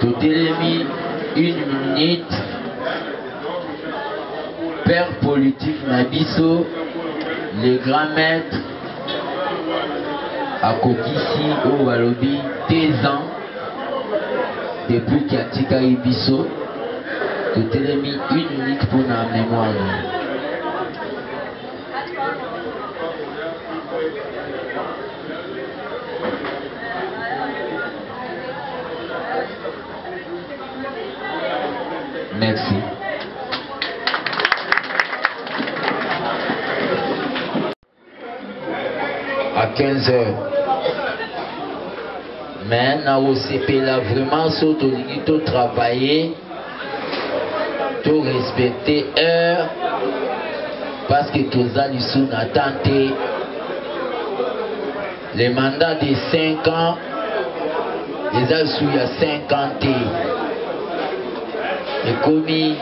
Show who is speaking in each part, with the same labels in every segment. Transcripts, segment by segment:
Speaker 1: totelemi une minute père politique na biso le grand maître akokisi oyo balobi deux ans depuis ki atikaki biso totelemi une minute mpo na mémoire Merci. à 15h. Mais na osepela vraiment soki tolingi to travailler To respecter heure parce que toza lisu na temps te. Le mandat de 5 ans eza lisu ya 5 ans te. Ekomi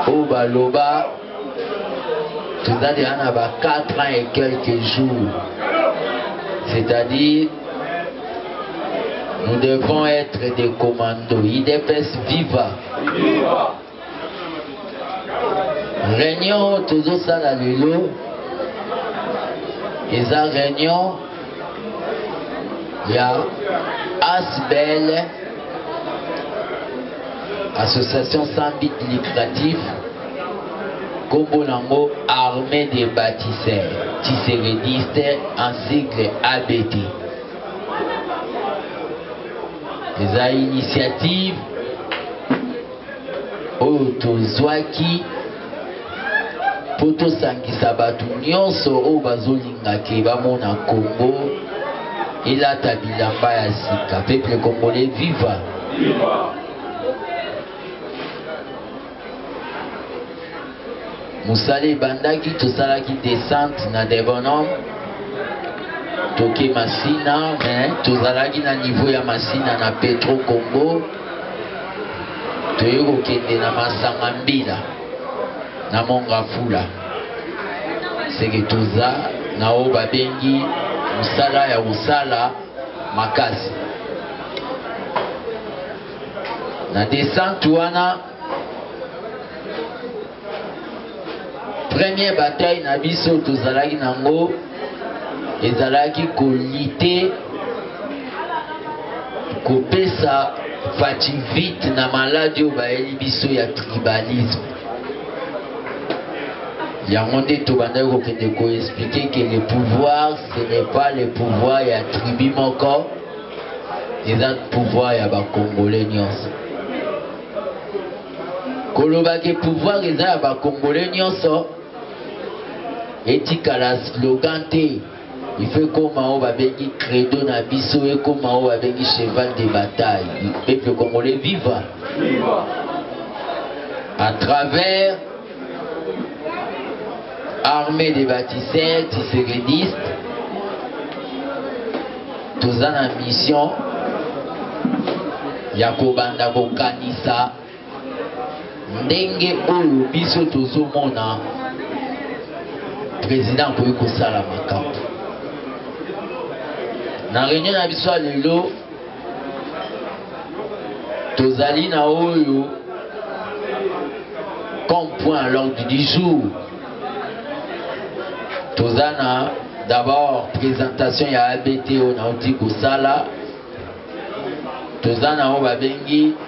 Speaker 1: oyo baloba toza deja na ba 4 ans et quelques jours c'est-à-dire nous devons être des commandos idps viva, viva. réunion tozosala lelo eza réunion ya asbl association sans but lucratif nkombo nango armée des bâtisseurs tiserediste en sigle abt eza initiative oyo tozwaki mpo tosangisa bato nyonso oyo bazolinga ke bamona Congo elata bilamba ya sika. Peuple congolais, viva! viva! mosala ebandaki tosalaki descente na degonome toke masina me tozalaki na niveau ya masina na petro congo toye kokende na masanga mbila na mongafula seke toza na oyo babengi mosala ya kosala makasi na descente wana Premier bataille na biso tozalaki nango ezalaki kolite kopesa faci vite na maladi oyo bayeli biso ya tribalisme yango nde tobandaki kokende koexplike ke le pouvoir ce n'est pas le pouvoir ya tribu moko eza pouvoir ya ba congolais nyonso koloba ke pouvoir eza ya ba congolais nyonso etikala slogan te il faut ekoma oyo babengi credo na biso ekoma oyo babengi cheval de bataille peuple congolais viva à travers Armée des bâtisseurs, tissevedistes, toza na mission ya kobanda kokanisa ndenge oyo biso tozomona président akoki kosala makambo na réunion na biso ya lelo tozali na oyo comme point à l'ordre du jour toza na d'abord présentation ya abt oyo nauti kosala toza na oyo babengi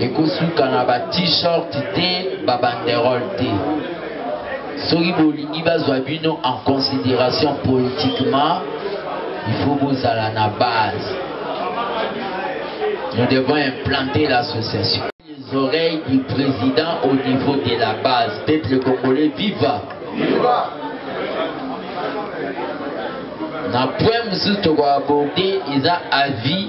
Speaker 1: ekosuka na ba t-shirt te ba banderole te soki bolingi bazwa bino en considération politiquement il faut bozala na base nous devons implanter l'association les oreilles du président au niveau de la base peuple congolais viva, viva. na point mosusu tokoaborde eza avis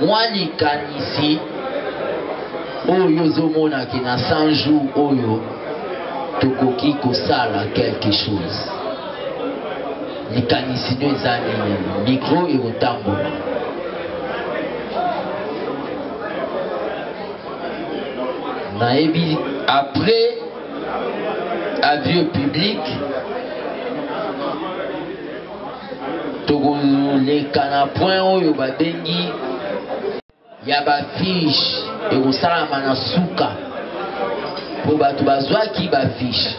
Speaker 1: Mwa likanisi oyo yo ozo mona que na 100 jours oyo tokoki kosala quelque chose? Likanisi nio eza nini? Micro ekotambola. Nayebi après avis au public. tokoleka na point oyo babengi ya bafiche ekosalama na suka mpo bato bazwaki bafiche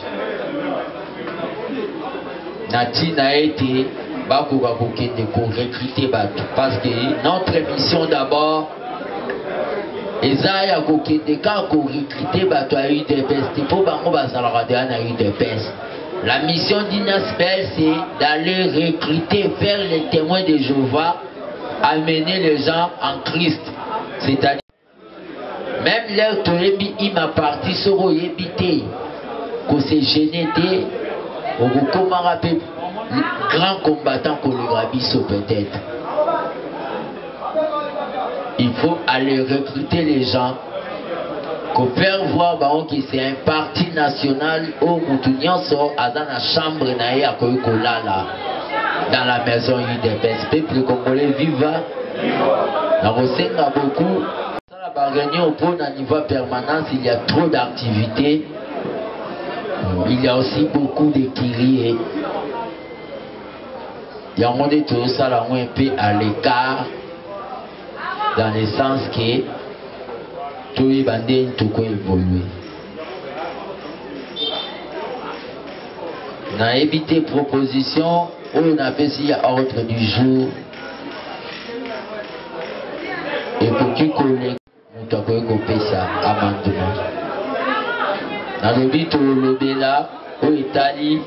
Speaker 1: na ntina ete bakoka kokende korekrute bato parce que notre mission d'abord eza ya kokende kaka korekrute bato ya udps te mpo bango bazalaka deya na udps La mission d'Inasbel, c'est d'aller recruter, faire les témoins de Jéhovah, amener les gens en Christ. C'est-à-dire, même leur toyebi ima parti soko oyebi te ko se gêner te okokomaka mpe grand combattant koleka biso peut-être il faut aller recruter les gens ko faire voir bango ki c'est un parti national oyo mutu nyonso aza na chambre na ye akoki kolala dans la maison udps peuple congolais viva na kosenga beaucoup sala ba réunion mpo na niveau permanence il y a trop d'activités il y a aussi beaucoup de kirie yango nde tozosala yango mpe à l'écart dans le sens que toyeba nde ntoko evolue nayebi te proposition oyo napesi ya ordre du jour ekoki koleka Moto akoki kopesa amandema. Nalobi tolobela oyo etali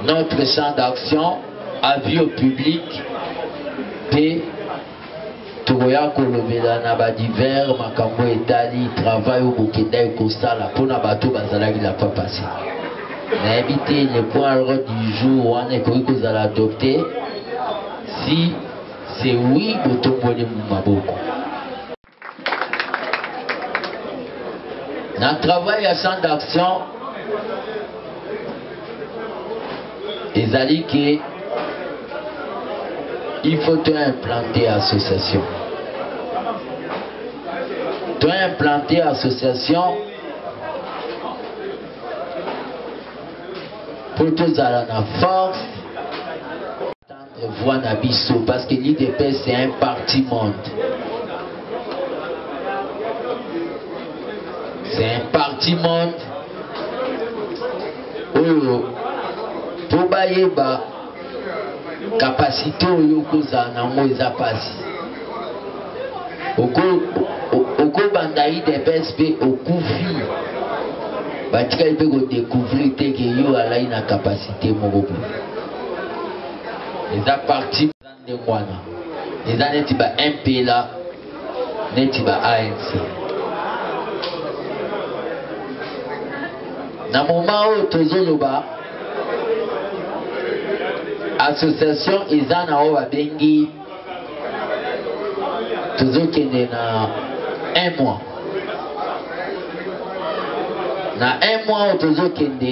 Speaker 1: notre champ d'action avis au public mpe tokoya kolobela na badiver makambo etali travail oyo bokendaki kosala mpo na bato bazalaki la fois passé nayebi te le point ordre du jour wana ekoki kozala adopte si C'est oui botomboli maboko. Na travail ya champ d'action ezali que il faut to implanter association. To implanter association pour tozala na force voix na biso parce que l'UDPS c'est un parti monde. C'est un parti monde oyo mpo bayeba kapasite oyo okozala nango eza mpasi okobanda idps mpe okufi batikali mpe kodecouvrir te ke yo alai na kapasite moko boye eza parti eza ndenge wana eza neti ba mpla neti ba anc na moma oyo tozoloba association eza na oyo babengi tozokende na un mois na un mois oyo tozokende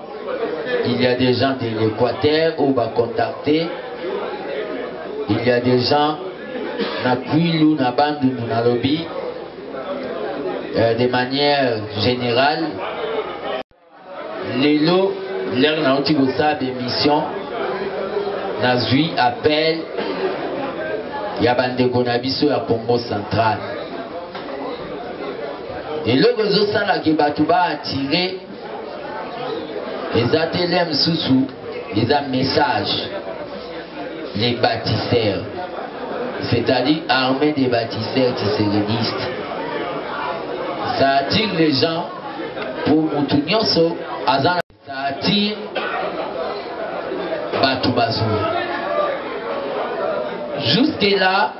Speaker 1: Il y a des gens de l'Équateur où va contacter. Il y a des gens na Kwilu, na Bandundu, na Lobi, euh, de manière générale. Lelo, l'heure na outi ça d'émission, na zui appel, ya bandeko na biso ya Congo central. eloko ezosala ke bato baattire eza te lia mosusu eza message les bâtisseurs c'est-à-dire armée des bâtisseurs tiseledistes ça attire les gens pour motu nyonso aza ça attire bato bazoya jusque là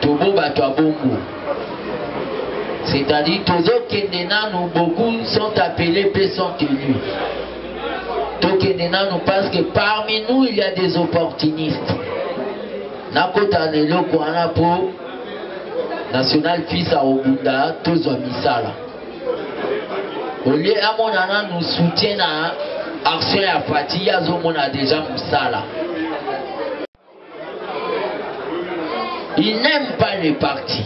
Speaker 1: tobo bato ya bongo c'est-à-dire tozokende nanu beaucoup sont appelés mpe sont tenus tokende nanu parce que parmi nous il y a des opportunistes nakota na eloko wana mpo national fils akobunda tozwa misala olie amona nanu soutien na action ya fati ye azomona deja mosala il n'aime pas le parti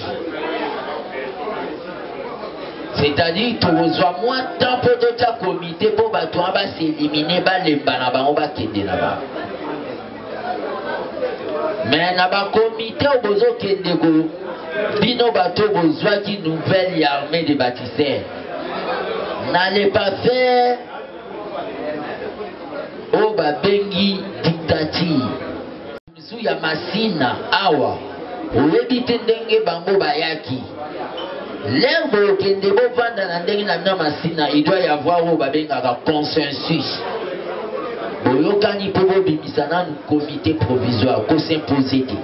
Speaker 1: c'est-à-dire tokozwa mwa temps mpo totya komite mpo bato wana baselimine balemba na bango bakende na bango me na bakomite oyo bozokende ko bino bato oyo bozwaki nouvelle ya armée de baptiseur na le passé oyo babengi dictature misu ya masina awa Oyebi te ndenge bango bayaki. Lève bokende bovanda na ndenge na bino masina il doit y avoir oyo babengaka consensus boyokani mpo bobimisa nanu comité provisoire kosimpose te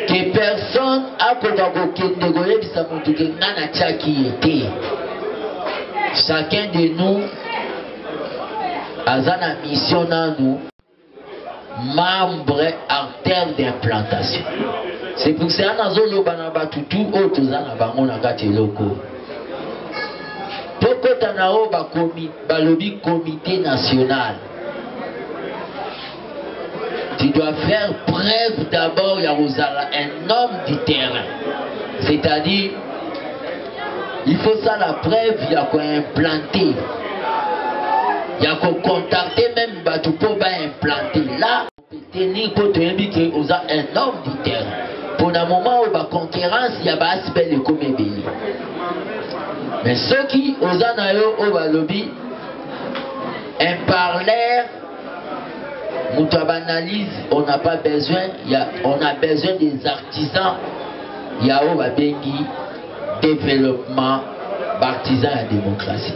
Speaker 1: ke personne akoka kokende koyebisa motu ke ngai natyaki ye te chacun de nous aza na mission nanu membre artère d'implantation c'est pour cela nazoloba na bato tu oyo toza na bango na kati eloko tokota na oyo balobi comité national tu dois faire preuve d'abord ya kozala un homme du terrain c'est-à-dire il faut ça la preuve ya koimplante ya kocontacte même bato mpo ba implante la teni mpo toyebi ke oza un homme du terrain mpo na moment oyo baconcurrence ya baasbel ekomi ebele me soki oza na yo oyo balobi un parleur moto ya baanalyse on n'a pas besoin ya on a besoin des artisans ya oyo babengi développement baartisan ya démocratie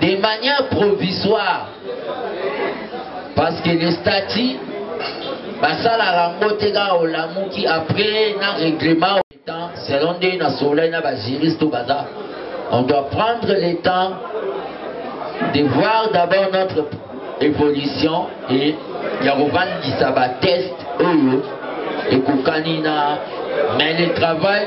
Speaker 1: de manière provisoire parce que le statut basalaka yango te kaka olamuki après na règlement temps selon nde na solai na bajuriste oyo baza on doit prendre le temps de voir d'abord notre évolution et ya kovandisa bateste oyo ekokani na mais le travail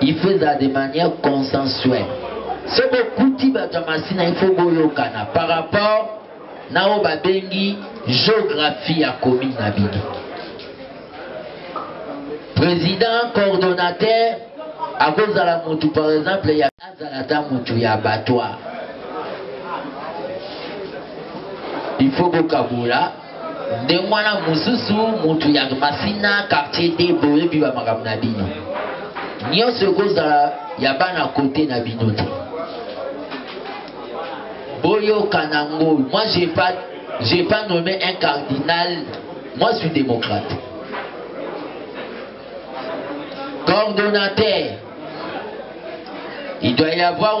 Speaker 1: il faut ezala de manière consensuelle so bokuti bato ya masina il faut boyokana par rapport na oyo babengi géographie ya commune na bino président coordonnateur akozala motu par exemple ya azala ata motu ya batoire il faut bokabola nde mwana mosusu mutu ya masina quartier te boyebi ba makambo na bino nyonso ekozala ya bana kote na bino te boyoka na ngoi moi j'ai pas j'ai pas nommé un cardinal moi suis démocrate coordonnateur il doit y avoir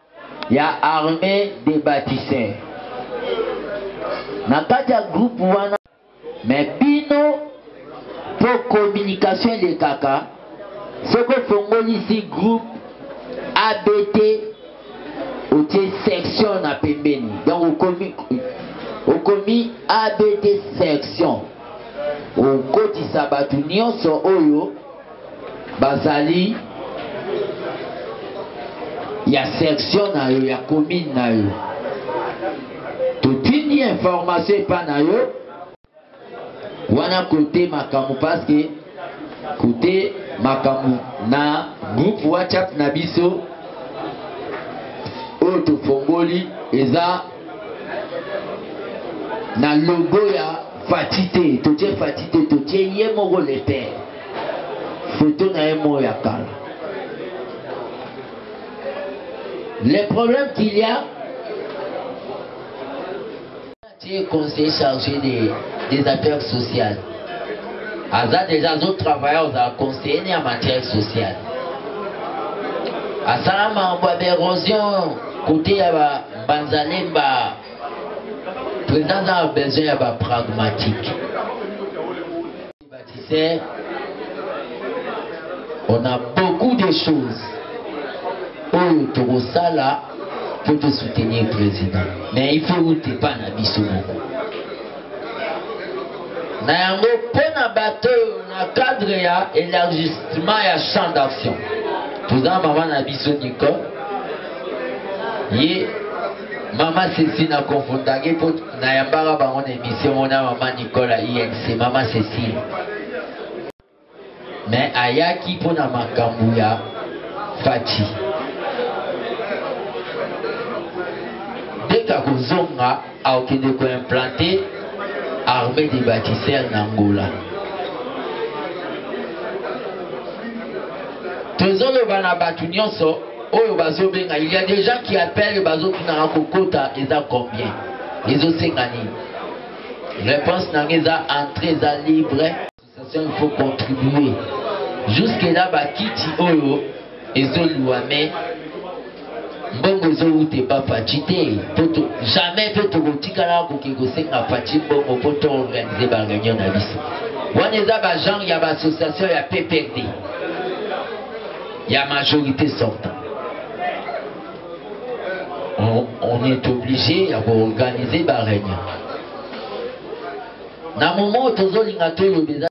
Speaker 1: ya armee de batise na kati ya groupe wana me bino po communication elekaka soki ofongolisi groupe abt otie section na pembeni donc okomi, okomi abt section okotisa bato nyonso oyo Bazali ya section na yo ya commune na yo totindi information epa na yo wana kote makambo paske kote makambo na groupe whatsapp na biso oyo tofongoli eza na logo ya fati te totie fati te totie ye moko le père Photo na ye moko ya kala. Le problème qu'il y a, tu es conseiller chargé des, des affaires sociales. aza deja azotravaille ozala conseiller ne ya matière sociale asala makambo ya baérosion kote ya banzalemba président aza na besoin ya bapragmatique Baptisee on a beaucoup de choses oyo tokosala mpo to soutenir président mais il faut ute epa na biso moko na yango mpo na bato oyo na cadre ya élargissement ya champ d'action toza mama na biso nicole ye mama sesi na confondaki mpo Nayambaka bango na emission mona mama Nicole ya INC, mama Cecile. Mais ayaki mpo na makambo ya Fatshi. Deka kozonga akokende koimplante armée des bâtisseurs na Angola. Tozoloba na bato nyonso oyo bazobenga il y a des gens qui appellent bazotunaka kokota eza combien ezosenga nini réponse nanga eza entré eza libre association il faut contribuer jusque là bakiti oyo ezoluwa mais mbongo ezowuta epa faci te poto jamais mpe tokotikala koke kosenga faci mbongo mpo toorganize bareunion na biso wana eza bagenre ya baassociation ya pprd ya majorité sortant on, on est obligé ya koorganize bareunion na moment oyo tozolinga toloba eza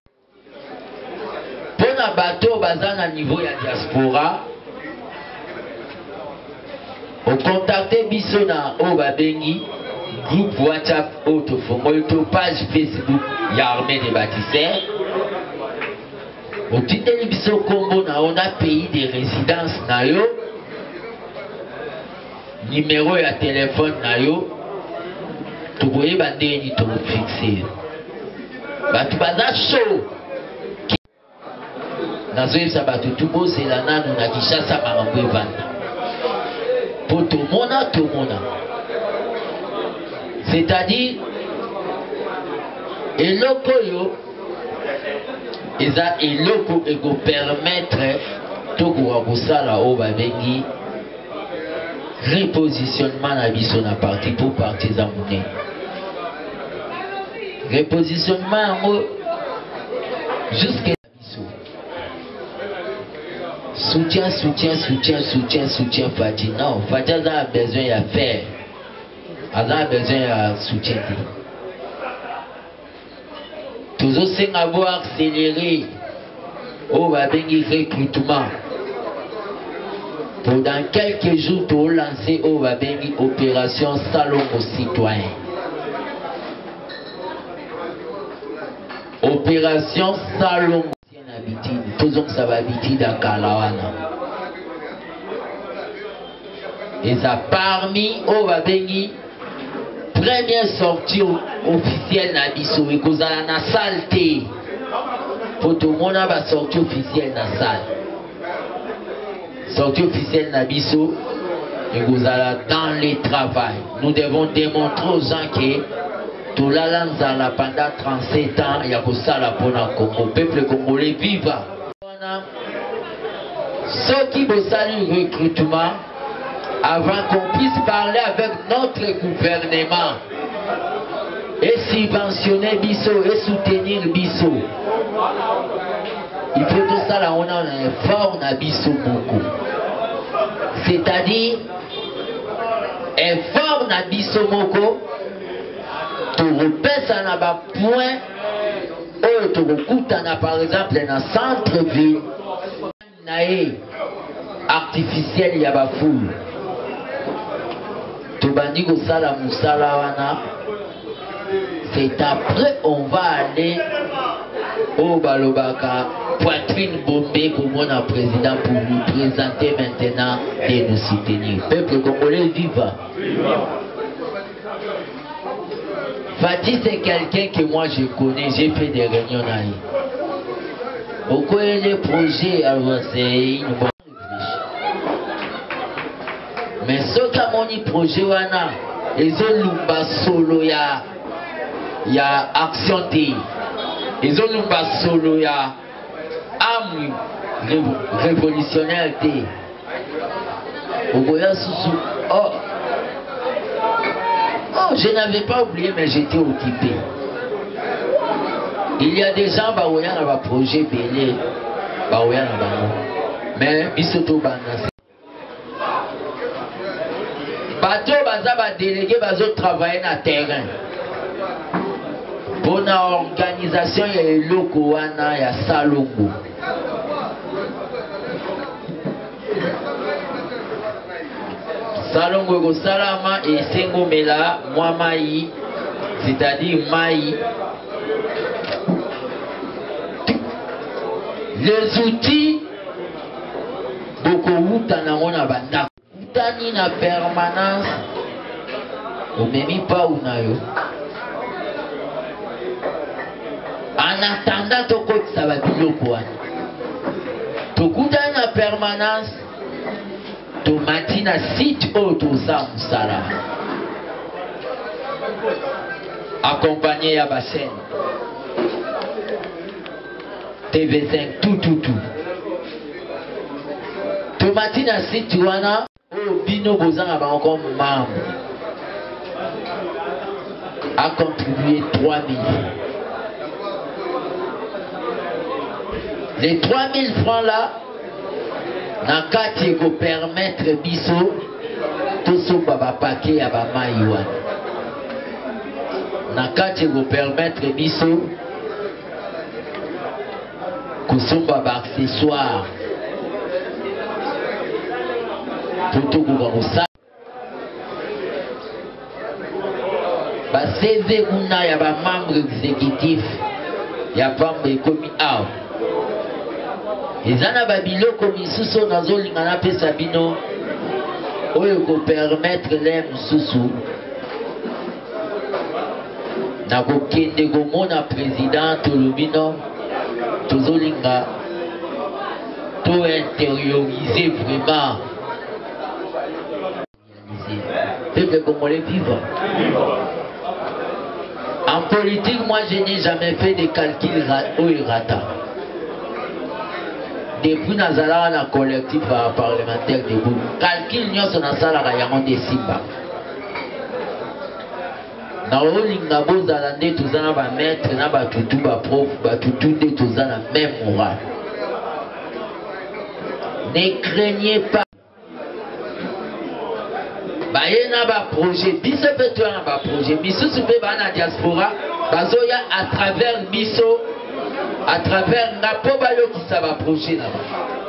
Speaker 1: mpo na bato oyo baza na niveau ya diaspora okontakte biso na oyo babengi groupe whatsapp oyo tofongoli to page facebook ya armée de bâtisseur Otindeli biso kombo na yo na pays de residence na yo, numero ya telefone na yo, tokoyeba ndenge nini tokofixe yo. Bato baza show. Nazoyebisa bato tu bozela nanu na Kinshasa makambo evanda. Mpo tomona tomona. C'est-à-dire eloko oyo eza eloko ekopermettre tokoka kosala oyo babengi repositionnement na biso na parti mpo parti eza monene repositionnement yango jusque na biso soutien soutien soutien soutien soutien fati non fati aza na besoin ya faire aza na besoin ya soutien te tozosenga bo accéléré oyo oh, babengi recrutement po dans quelques jours tolance oyo oh, babengi opération salongo citoyen opération salongo Tina habitude tozongisa ba habitude ya kala wana eza parmi oyo babengi première sortie officielle na biso ekozala na salle te mpo tomona basortie officielle na salle Sortie officielle na biso ekozala dans le travail. Nous devons démontrer aux gens que tolala nzala pendant 37 ans ya kosala mpona Congo. Peuple congolais viva! Wana soki bosali recrutement avant qu'on puisse parler avec notre gouvernement et subventionner biso et soutenir biso il faut tosala wana na effort na biso moko c'est-à-dire effort na biso moko tokopesa na bapoint oyo tokokutana par exemple na centre ville naye artificiel ya ba foule tobandi kosala musala wana c'est après on va aller oyo balobaka poitrine bombe komona président pour nous présenter maintenant et nous soutenir peuple congolais viva, viva. Fatih c'est quelqu'un que moi je connais, j'ai fait des réunions na ye. Okoyele projet alors c'est une bonne réflexion. Mais soki amoni projet wana ezolumba solo ya ya action te ezolumba solo ya amwi revolutionnaire te okoya susu oh. oh je n'avais pas oublié mais j'étais occupé il y a des gens baoya na baprojet ebele baoya na bango mais biso tobanda bato baza ba delege bazo travaille na terrain mpo na organisation ya eloko wana ya salongo salongo ekosalama esengomela mwa mai c'est-à-dire mai les outils bokowuta nango na bandako okutani na permanence omemi pau na yo en attendant tokotisa babiloko wana tokutani na permanence tomati na site oyo toza mosala accompagné ya bachaine TV5 tout tout tout. Tomati na site wana oyo oh, bino bozanga bango comme membre a contribué 3000. Les 3000 francs là na kati ekopermettre biso tosomba bapake ya bamai wana na kati ekopermettre biso kosomba baaccessoire po tokoka kosala baseze kuna ya bamembre exécutif ya pamba ekomi awa eza na babiloko misusu oyo nazolinga napesa bino oyo ekopermettre le mosusu nakokende komona president tolobino tozolinga to interioriser vraiment peuple congolais vivre en politique moi je n'ai jamais fait de calcul oyo erata depuis nazalaka na collectif ya parlementaire debout calcul nyonso nasalaka yango nde esimba naolinga bozala nde toza na bamaître na batutu baprof batutu nde toza na même moral ne craignez pas baye na baprojet biso mpe toya na baprojet misusu mpe baa na diaspora bazoya à travers biso à travers nga mpo bayokisa baprojet na bango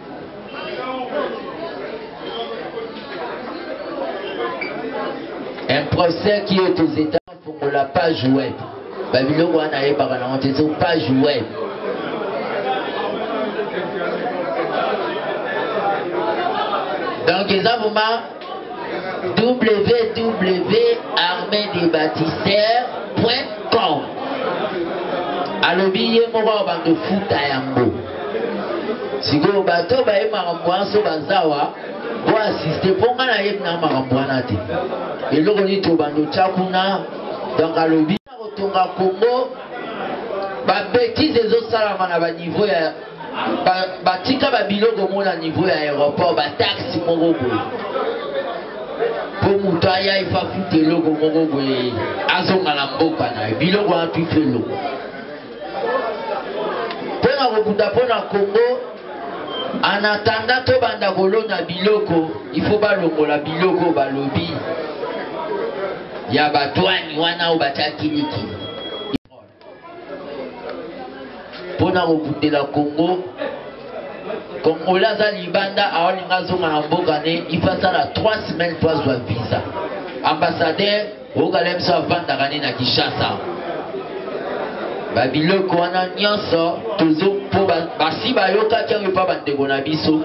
Speaker 1: Un procès qui est aux États fongola page web babiloko wana ayebaka nango te so page web donc eza vraimen www.armedebatisseur.com alobi ye moko ya bando futa yango sikoyo bato baye makambo wana so bazawa po asiste mpo ngai nayebi na makambo wana te eloko nini tobanda otya kuna donc alobi Kotonga Congo, ba betises ezosalama na ba niveau ya batika ba biloko moko na niveau ya aéroport, ba taxes moko boye mpo moto aya efa futa eloko moko boye azonga na mboka na ye biloko wana tufi eloko mpo na kobunda mpo na congo anatanda tobanda kolona biloko ifo balongola biloko balobi ya batwani wana oyo batya kiliki mpo na kobundela congo kongola aza libanda aolinga azonga na mboka ne ifo asala 3 semaine mpo azwa visa ambassadeur Roga Lemso avandaka nde na Kinshasa. Babiloko wana nyonso tozo mpo basi bayokaki yango epa bandeko na biso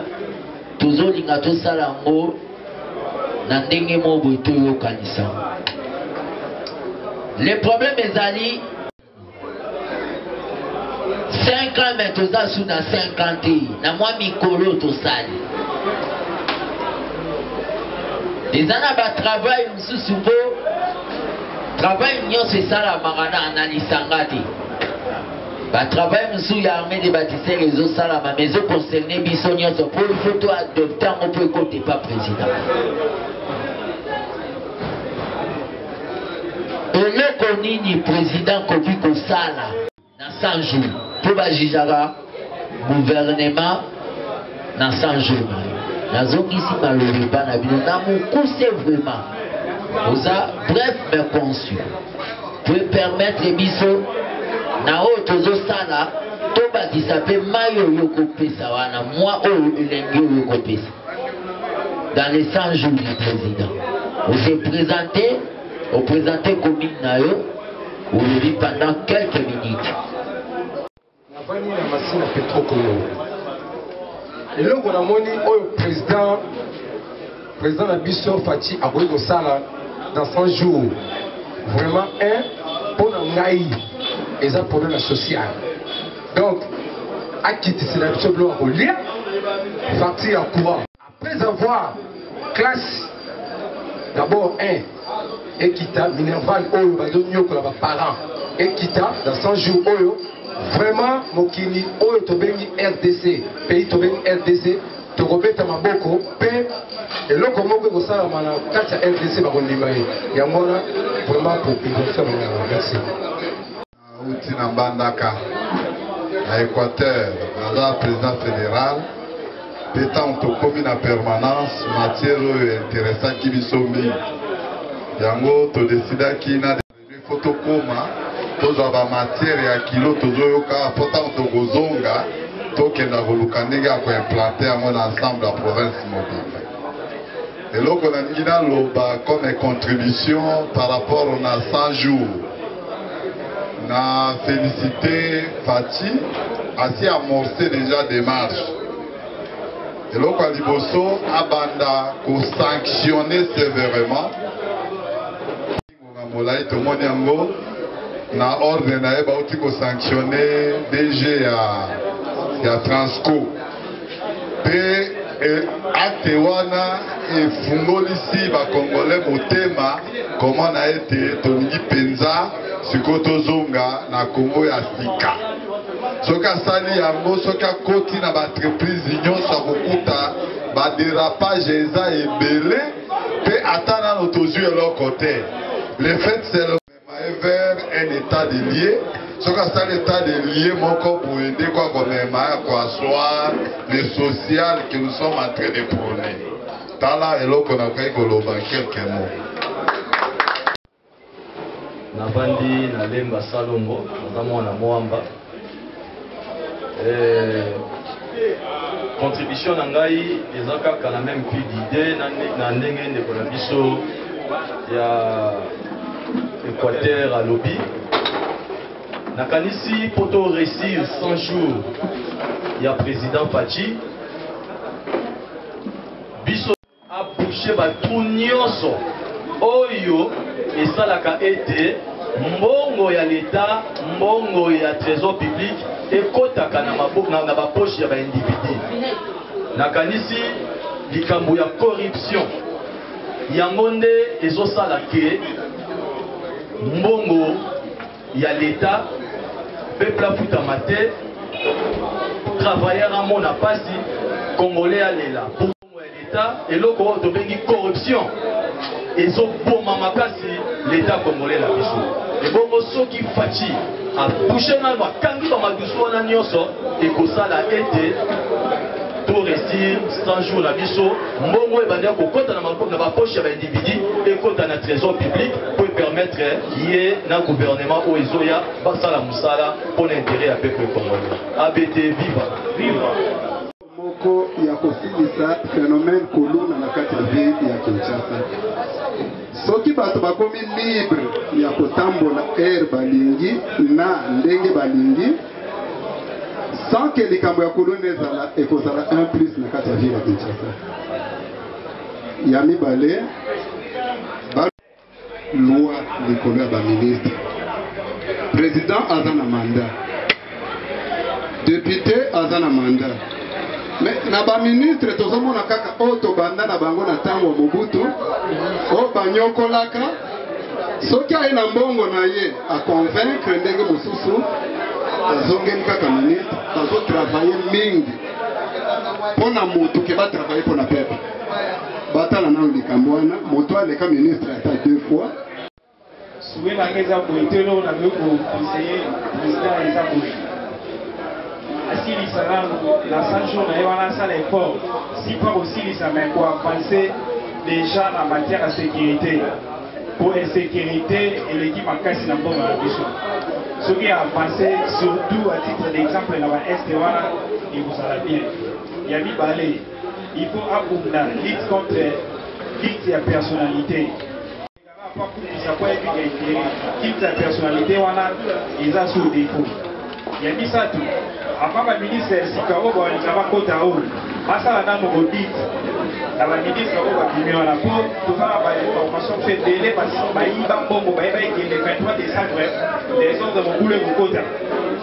Speaker 1: tozolinga tosala yango na ndenge moko boye toyokanisa le problème ezali 5 ans mais toza su na 5 ans te na mwa mikolo tosali eza na batravail mosusu mpo travail nyonso esalamaka na na lisanga te batravail mosusu ya armée de batisere ezosalama ma ezoconcerne biso nyonso mpo ifo to adopte yango mpo ekotepa président eloko nini president koki kosala na 100 jours mpo bajijaka gouvernement na 100 jours nazongisi maloba epa na bino na mokuse vraiment oza bref mais conçu mpo epermettre biso na oyo tozosala tobakisa mpe mai oyo okopesa wana mwa oyo elengi oyo okopesa dans les 100 jours du président ose présente opresente commune na yo olobi pendant quelques minutes
Speaker 2: navandi na masina petrokolo eloko namoni oyo président président na biso faci akoki kosala dans 100 jours vraiment un mpo na ngai eza problème ya sociale Donc, akitisela biso biloko ya kolia facture ya courant après avoir classe d'abord un ekita minerval oyo bazonyokola baparent ekita na 100 jours oyo vraiment mokili oyo tobengi rdc pays tobengi rdc tokobeta maboko mpe eloko moko ekosalama na kati ya rdc bakondima ye yango wana vraiment population merci
Speaker 3: Nauti na Mbandaka, na Equateur, naza president federal mpe ntango tokomi na permanence matière oyo interesaki biso mingi, yango todesidaki na il faut tokoma tozwa bamatière ya kilo tozoyoka mpo ntango tokozonga tokenda koluka ndenge ya koimplante yango na ensemble ya province mobimba. Eloko na lingi na loba comme contribution par rapport na 100 jours. Na felicite Fatshi, asi amorce deja demarche. Eloko ya liboso abanda ko sanctionner severement Ngonga molayi tomoni yango na ordre na ye bauti ko sanctionner DG ya ya Transco pe acte wana efungolisi ba congolais motema komona ete tolingi mpenza sikoyo tozonga na Congo ya sika. Soki asali yango, soki akoti na ba entreprise nyonso akokuta ba derapage eza ebele. Pe ata nano tozui eloko te. Le fait seulement ye vers un etat de lieu soki asali etat de lieu moko boye nde kwa komema ya koassoir le social que nous sommes en train de prôner tala eloko nakoki koloba quelques mots
Speaker 4: Navandi na Lemba Salongo, naza mwana Moamba. Eh, contribution na ngai eza kaka na meme plus d'idee na ndenge ndeko na biso ya Equateur alobi. Nakanisi mpo to réussir 100 jours ya président Fatshi A boucher ba trous nionso oyo esalaka ete mbongo ya l'Etat, mbongo ya tresor public ekotaka na ba poches ya ba individus. Nakanisi likambo ya corruption yango nde ezo sala que mbongo ya l'Etat peuple afutama te, travailleur amona pasi, congolais alela. Mbongo ya l'etat eloko oyo tobengi corruption ezo boma makasi l'etat congolais na biso ebongo soki Fatshi a touche nanu akangi ba madusu wana nionso ekosala ete to resir 100 jours na biso mbongo ebandaki kokota na ba poche ya ba individu ekota na tresor public po epermettre ye na gouvernement oyo ezoya basala musala pona interet ya peuple congolais abete viva viva Moko
Speaker 5: ya kosilisa phenomène kuluna na kati ya ville ya Kinshasa. Soki bato bakomi libre ya kotambola heure balingi na ndenge balingi, sans que likambo ya kuluna ezala, ekozala un plus na kati ya ville ya Kinshasa. Ya mibale, Loi likolo ya ba ministres. President aza na mandat. Depute aza na mandat. Mais na ba ministres tozo mona kaka oyo tobanda na bango na tango ya Mobutu oyo banyokolaka soki aye na mbongo na ye a convaincre ndenge mosusu azongeli kaka ministre bazo travailler mingi pona mutu ke ba travailler pona peuple. batala nanu likambo wana moto aleka ministre ata deux fois
Speaker 6: souhait na nga eza boye to eloko na koki koconseille président eza boye asilisa nanu na 100 jour na ye wana asala effort si mpo akosilisa mai koavance déjà na matière ya sécurité mpo insécurité eleki makasi na mbongo na biso soki avance surtout à titre d'exemple na baeste wana ekozala bien ya mibale Il faut abunda lutte contre lutte ya personnalité. Pas kumisa kwa epi ya ikiri. Lutte ya personnalité wana eza sous défaut. Ya misato, avant ba ministre ya sika oyo balinga bakota oyo basala nano audit na ba ministre oyo babimi wana mpo toza na ba information mpe ebele bayiba mbongo bayeba ekende 23 décembre desordre mokulu ekokota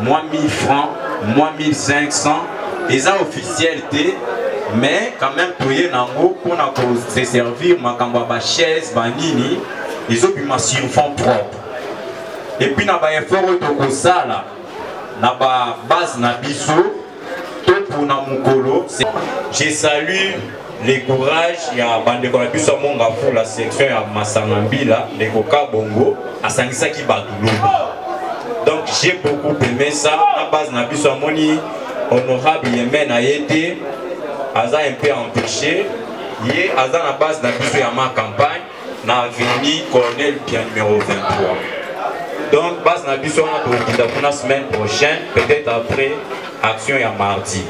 Speaker 7: mwa 1000 francs mwa 1500 eza officiel te mais quand même toye na yango mpona kose servir makambo ya bachaise banini ezobima sur fond propre epuis na baeffort oyo tokosala na babase na biso topona mokolo je salue le courage ya bandeko na biso ya mongafu la section ya masanga mbila ndeko kabongo asangisaki bato lobi donc j'ai beaucoup aimé ça na base na biso amoni honorable yeme na ye te aza un peu empêché ye aza na base na biso ya ma campagne na avenue colonel pia numéro 23 donc base na biso wana tokokita kuna semaine prochaine peut-être après action ya mardi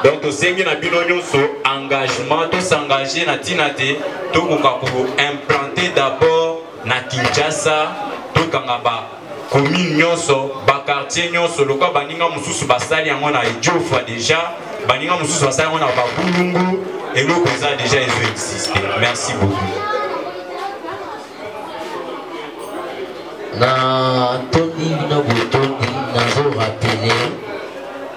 Speaker 7: donc tosengi na bino nyonso engagement tosengage na ntina te tokoka koimplante d'abord na kinshasa tokanga ba commune nyonso bakartier nyonso lokola baninga mosusu basali yango na idiofa déjà baninga mosusu basali yango na babulungu eloko eza déjà ezo existe merci beaucoup
Speaker 1: na tondi na botondi nazo rapele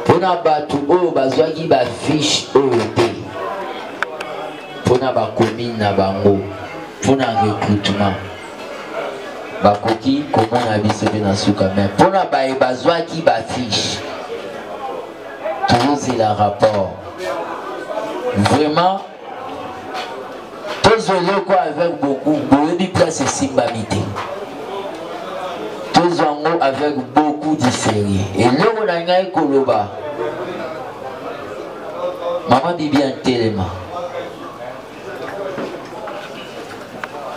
Speaker 1: mpona bato oyo bazwaki bafiche oyo te mpona bakomine na bango mpona recrutement bakoki komona biso mpe na suka me mpona baye bazwaki bafiche tozozela rapport vraiment tozwa eloko avec beaucoup boyebi place esimbami te tozwa yango avec beaucoup du sérieux eloko na ngai koloba mama bibi antelema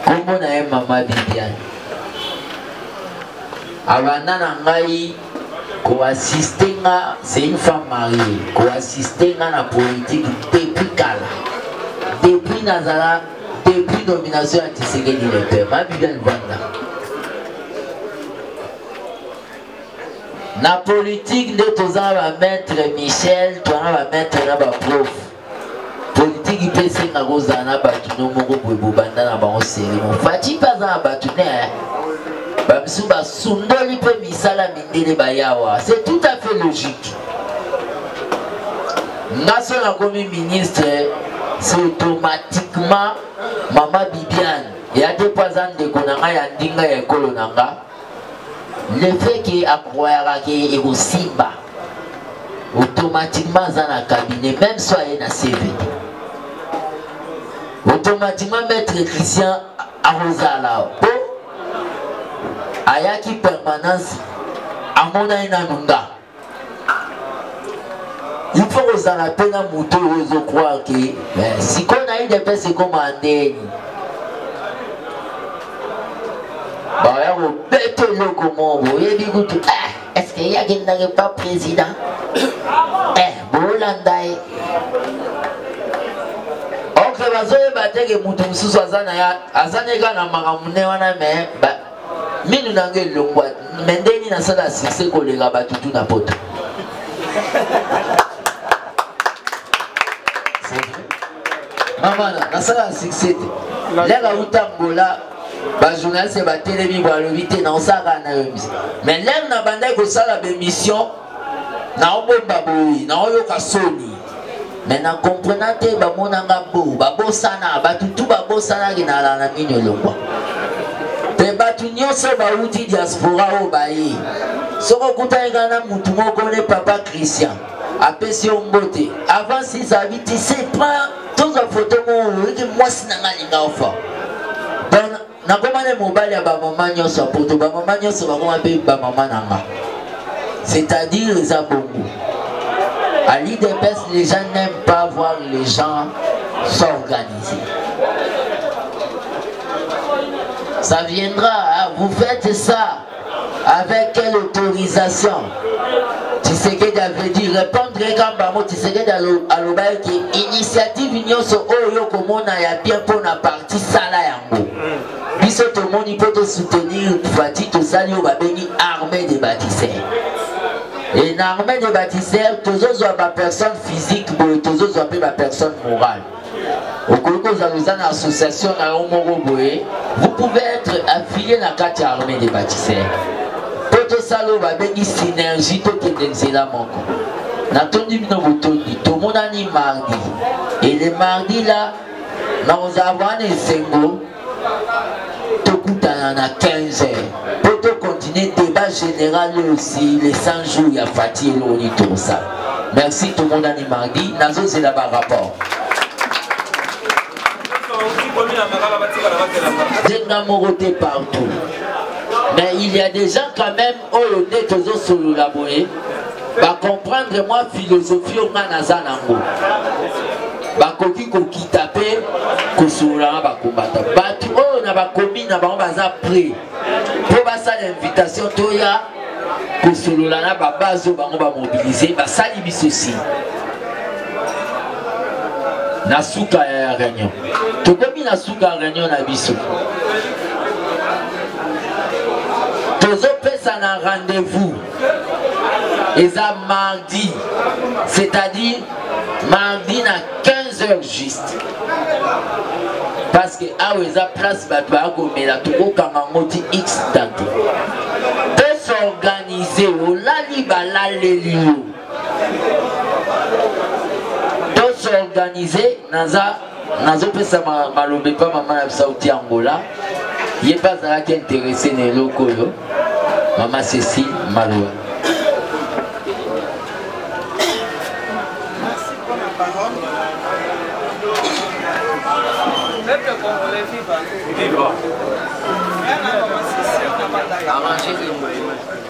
Speaker 1: nkombo na ye mama bibiane abanda na ngai koassiste nga c'est une femme mariée koassiste nga na politique depuis kala depuis nazala depuis nomination ya tisekedi le père ma bibiane vanda na politique nde toza ba maître michel toza ba maître na ba prof politiki mpe esenga kozala na bato no moko boye bobanda na bango serimo faci mpe aza na bato ne bamisusu basundoli mpe misala mindele bayawa c'est tout à fait logique nga so nakomi ministre c'est automatiquement mama bibiane eya te mpo aza ndeko na ngai ya ndinga ya ekolo na nga le fait que akroyaka ke ekosimba automatiquement aza na cabinet même so aye na cvd automatiquement maître christian akozala po ayaki permanence amonani nanu nga il faut kozala mpe na moto oyo ezokroire ke eh, sikoyo na udps ekoma ndeni baya kobeta eloko moko boyebi kutu eh, estce ye akendaki pa président eh, bolanda ye ok bazoyeba teke moto mosusu aza na ya aza na eka na makambo ne wana me minu na nga elongwa me nde nini nasala succès koleka bato tu na poto mamana nasala succès te leka uta mbola bajournaliste batelemi balobi te naosalaka na yo mise mais leme nabandaki kosala bemission naobomba boye naoyoka soni me na comprena te bamonanga bo babosana bato tu babosanaki na ala na mino elongwa mpe bato nyonso bauti diaspora oyo baye soki okutani ngai na motu moko ne papa christian apesi yo mbote avant sizabi tise prend tozwa foto moko oyoki mwasi na ngai alinga ofa nakoma nde mobali ya bamama nyonso ya poto bamama nyonso bakoma mpe bamama na nga c'est-à-dire eza bongo à l'idps les gens n'aiment pas voir les gens s'organiser ça viendra hein? vous faites ça Avec quelle autorisation Tshisekedi avait dit répondre quand bango Tshisekedi alobaki ke initiative nyonso oyo okomona ya bien mpo na parti sala yango mm. biso tomoni mpo tosoutenir fati tosali oyo babengi armée de bâtisseurs et na armée de bâtisseurs tozozwa bapersonne physique boye tozozwa mpe bapersonne morale okoki kozala oza na association na yo moko boye vous pouvez être affilié na kati ya armée de bâtisseur mpo tosala oyo babengi synergie tokende nzela moko natondi bino botondi tomonani mardi et le mardi la nakozala wana esengo tokutana na 15 heures mpo tocontinue débat général oyo osi les 100 jours ya fati eloko nini tokosala merci tomonani mardi nazozela barapport jenga moko te partout mais il y a des gens quand même oyo nde tozosolola boye bacomprendre mwa philosophie oyo ngai naza nango bakoki kokita mpe kosolola na bakombata bato oyo na bakomi na bango baza pre mpo basala invitation toya kosolola na babase oyo bango bamobilize basali biso si na suka ya réunion tokomi na suka reunion na biso tozopesa na rendez-vous eza mardi c'est-à-dire mardi na 15 heures juste parce que awa eza place bato baya komela tokokanga yango ti x date tosorganize olali balaleli yo s'organiser naza nazopesa maloba epa mama na biso auti angola ye mpe azalaki interesse na eloko oyo mama ceci maloba Peuple
Speaker 8: congolais, viva! Viva! Arrangez-le,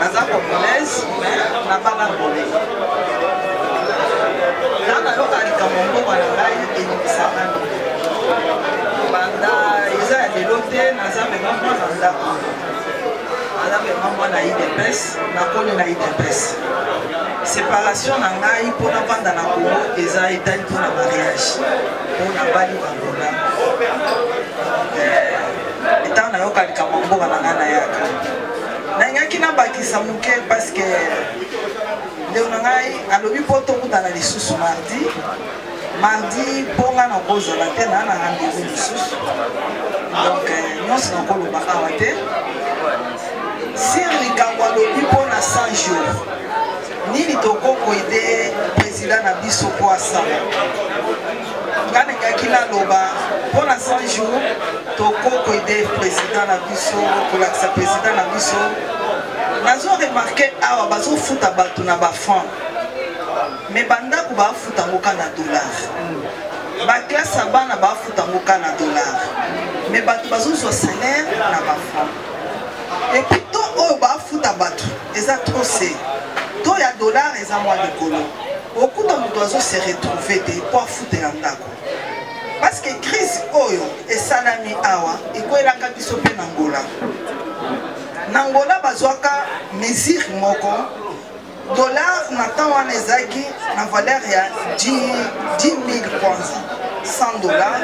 Speaker 8: naza congolaise mais nabala ngolais nga nayoka likambo mbongo na ngai ebimisaka banda eza ya lelo te naza mema mwana ndako naza mema mwana idps nakoli na idps séparation na ngai mpo navanda na kongo eza etali mpo na mariage mpo nabali bangola eh, ntango nayoka likambo mboka na ngai nayaka nalingaki nabakisa moke parceke ndeko na ngai alobi mpo tokutana lisusu mardi mardi mpo nga nakozala te naa na rendez-vous lisusu donc euh, nyonso nakoloba awa te sir likambo alobi mpo na 100 jours nini tokokoide président na biso mpo asala nga ningaki naloba mpo na 100 jour tokokoide président na biso kolakisa président na biso nazo remarke awa bazofuta bato na bafranc me bandako bafuta yango ka na dollar baklase ya bana bafuta yango ka na dollar me bato bazozwa salaire na bafranc epuis to oyo bafuta bato eza trop se to ya dollar eza mwa likolo okuta moto azo se retrouve te mpo afutela ndako parce que crise oyo esalami awa ekwelaka biso mpe na ngola na ngola bazwaka mesure moko dollar na temps wana ezalaki na valeur ya 10 000 kwanza 100 dollar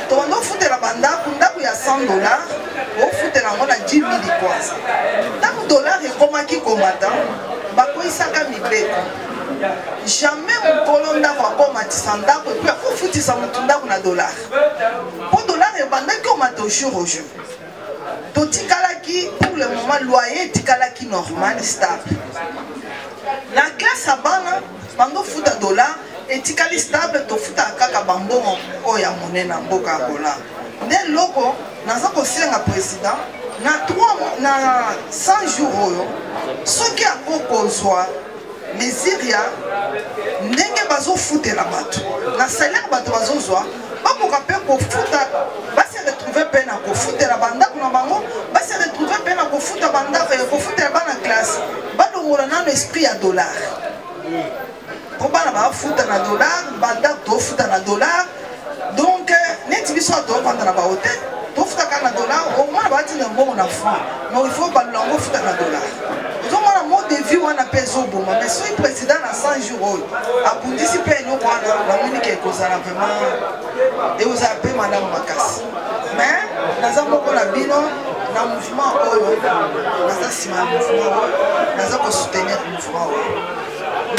Speaker 8: tokondo ofutela bandako ndako ya 100 dollar ofutela yango na 10 mili kwanza ntango dolare ekomaki komata bakoyisaka mibeko jamais mokolo ndako akomatisa ndako epuis akofutisa motu ndako na dolare mpo dolare ebandaki omata jour au jour totikalaki pour le moment loyer etikalaki normal stable na classe ya bana bando futa dollar etikali stable tofutaka kaka bambongo oyo ya monene na mboka ya bolar nde loko naza kosenga president na 3 na 100 jours oyo soki ako kozwa mesure ya ndenge bazofutela bato na salaire bato bazozwa bakoka mpe kofuta base retrouve mpe na kofutela bandako na bango base retrouve mpe na kofuta bandako ya kofutela bana classe balongola nano esprit ya dollar po bana bafuta na dollar bandako tofuta na dollar donc neti biso tofanda na bahotel tofutaka na dollar omona batinda mbongo na franc donc il faut balula yango ofuta na dollar ozomona mot de vie wana mpe ezoboma mais soki président na 100 jour oyo abundisi mpe eloko wana namoni ke ekozala vraiment ekozala mpe malamu makasi mais naza moko na bino na mouvement oyo naza nsima ya mouvement oyo naza kosoutenir mouvement oyo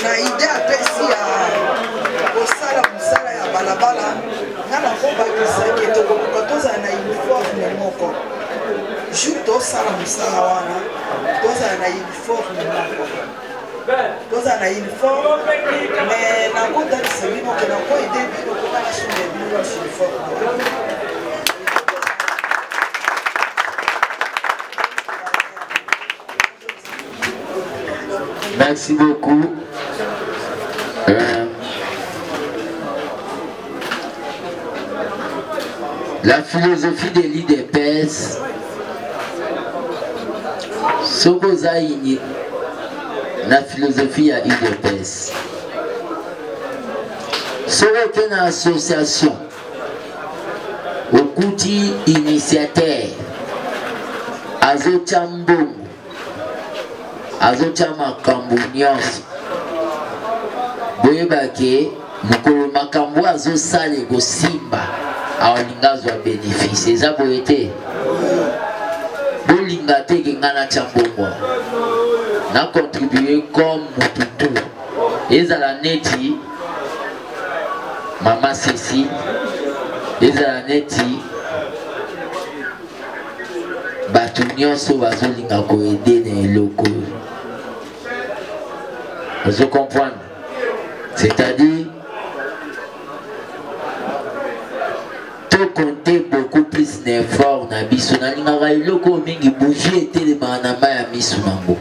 Speaker 8: na ide apesi ya kosala mosala ya balabala nga nakobakisaki tokoluka tozala na uniforme moko jour tosala mosala wana tozala na uniforme moko tozala na uniforme me nakotalisa bino ke nakoide bino koka nasunga bino na uniforme
Speaker 1: Merci beaucoup. Euh, la philosophie de l'IDPS, soki oza ini na philosophie ya IDPS, soki oke na association okuti initiateur azotya mbongo azotya makambo nyonso boyeba ke mokolo makambo oyo azosala ekosimba aolinga azwa bénéfice eza boye te bolinga te ke ngai natya mbongo na contribue comme motutu ezala neti mama sesi ezala neti bato nyonso bazolinga koede na eloko ozo comprendre c'est-à-dire tokonte beaucoup plus na effort na biso nalingaka eloko mingi bougie etelemaka na mai ya miso nango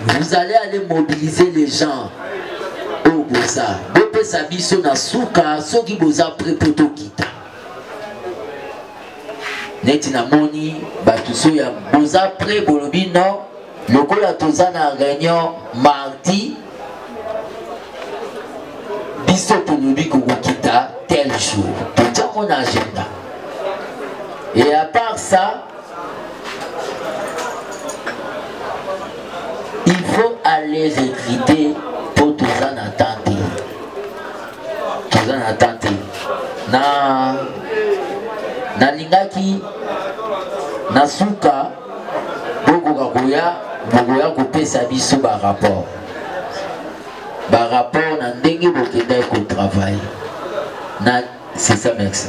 Speaker 1: vous allez aller mobiliser les gens oyo boza bopesa biso na suka soki boza pre mpo tokita neti namoni bato so ya boza pre bolobi non lokola toza na réunion mardi biso tolobi kokokita tel jour totiango na agenda et à part ça il faut aller recruter mpo toza na temps te toza na temps te na nalingaki na suka bokoka koya bokoya kopesa biso barapport barapport na ndenge bokendaki kotravaille na c'est ça merci